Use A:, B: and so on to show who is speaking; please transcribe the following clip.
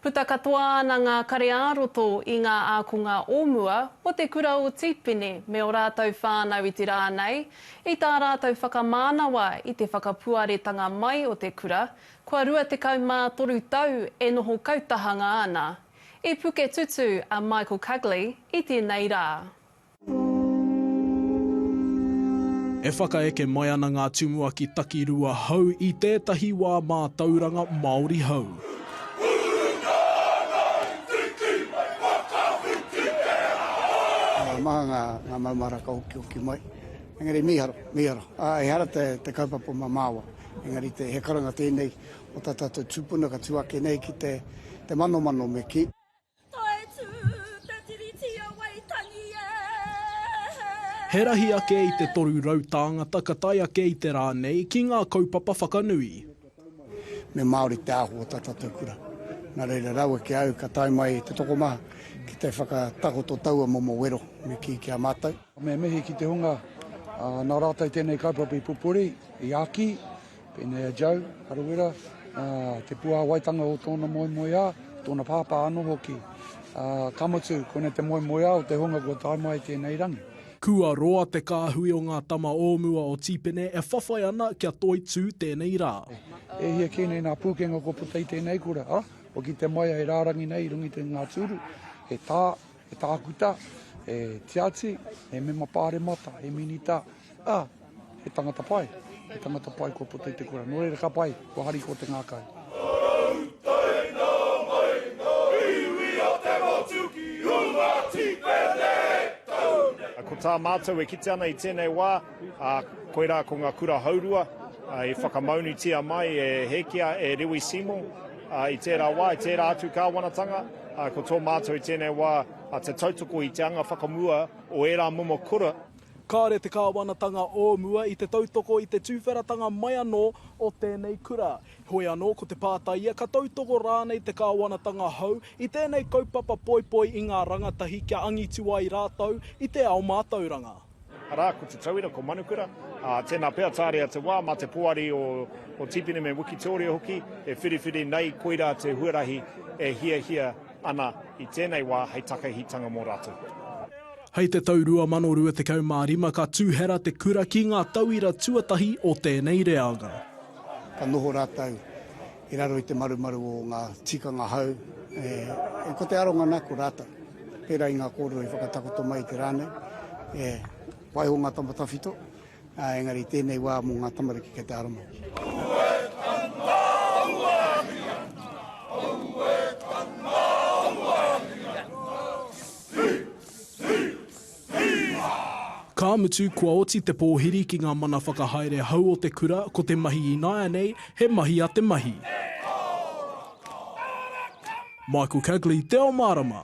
A: Puta katoa ana ngā kare-ā-roto i ngā ākonga o mua o te kura o Tīpene me ō rātou whānau i te rā nei, i tā rātou whakamānawa i te whakapuaretanga mai o te kura, kua 23 tau e noho kautahanga ana. I puke tutū a Michael Cugley i tēnei rā.
B: E whakaeke mai ana ngā tumuaki takirua hou i tētahi wā mātauranga Māori hou. Ngā
C: maha ngā maumahara ka okiokī mai, engari mīharo, mīharo. Ehara te kaupapa o Mamāoa, engari he karanga tēnei o tā tātou tūpuna ka tū ake nei ki te manomano me kī. Tae tū te
B: Tiriti o Waitangi e! He rahi ake i te toru rau tāngata ka tae ake i te rā nei ki ngā kaupapa whakanui. Me
C: Māori te ahu o tā tātou kura. Nā reira, raua ki a au ka tae mai te tokomaha ki te whakatakoto taua momo wero me kī ki a mātou. Me mihi ki te hunga
D: nā rātou tēnei kaupapa i pupuri, i āki, Pēnei a Joe Harawira, te puāwaitanga o tōna moemoeā, tōna pāpā anō hoki. Ka mutu, koinei te moemoeā o te hunga kua tae mai i tēnei rangi. Kua roa te
B: kāhui o ngā tama o mua o Tīpene e whawhai ana kia toitū tēnei rā. E hia kē
D: nei ngā pūkenga kua puta i tēnei kura, ā, kua kite mai e rārangi nei i runga i ngā tūru, he tā, He tākuta, he tiati, he mema pāremata, he minita, ā, he tangata pai. He tangata pai kua puta i te kura. Nō reira ka pai, kua hari kō te ngākau. Ngākau tae nā mai ngā iwi a te motu
E: ki ū Ngāti Pēnei, tau nei. Ko tā mātou e kite ana i tēnei wā. Ā, koirā ko ngā kura hourua i whakamaunutia mai e Hēkia, e Rewi Seymour, ā, i tērā wā, i tērā atu kāwanatanga, ā, ko tō mātou i tēnei wā te tautoko i te anga whakamua o ērā momo kura. Kāore te
B: kāwanatanga o mua i te tautoko i te tuwheratanga mai anō o tēnei kura. Heoi anō, ko te pātai ia, ka tautoko rānei te kāwanatanga hou i tēnei kaupapa poipoi i ngā rangatahi kia angitu ai rātou i te ao mātauranga? Arā, ko Te
E: Tauira, ko Manukura. Ā, tēnā pea tāria te wā, mā te poari o, o Tīpene me Wikitōria hoki e whiriwhiri nei koirā te huarahi e hiahia ana i tēnei wā hei takahitanga mō rātou. Hei te
B: tau 2025 ka tūhera te kura ki ngā tauira tuatahi o tēnei reanga. Ka noho
C: rātou I raro i te marumaru o ngā tikanga hou, e, ko te aronga nā, ko rātou. Pērā i ngā kōrero i whakatakoto mai i te rā nei, e, waiho ngā tama tawhito, ā, engari i tēnei wā mō ngā tamariki kei te aromau.
B: Ka mutu, kua oti te pōhiri ki ngā mana whakahaere hou o te kura, ko te mahi ināianei, he mahi a te mahi. Michael Cagley, Te Ao Mārama.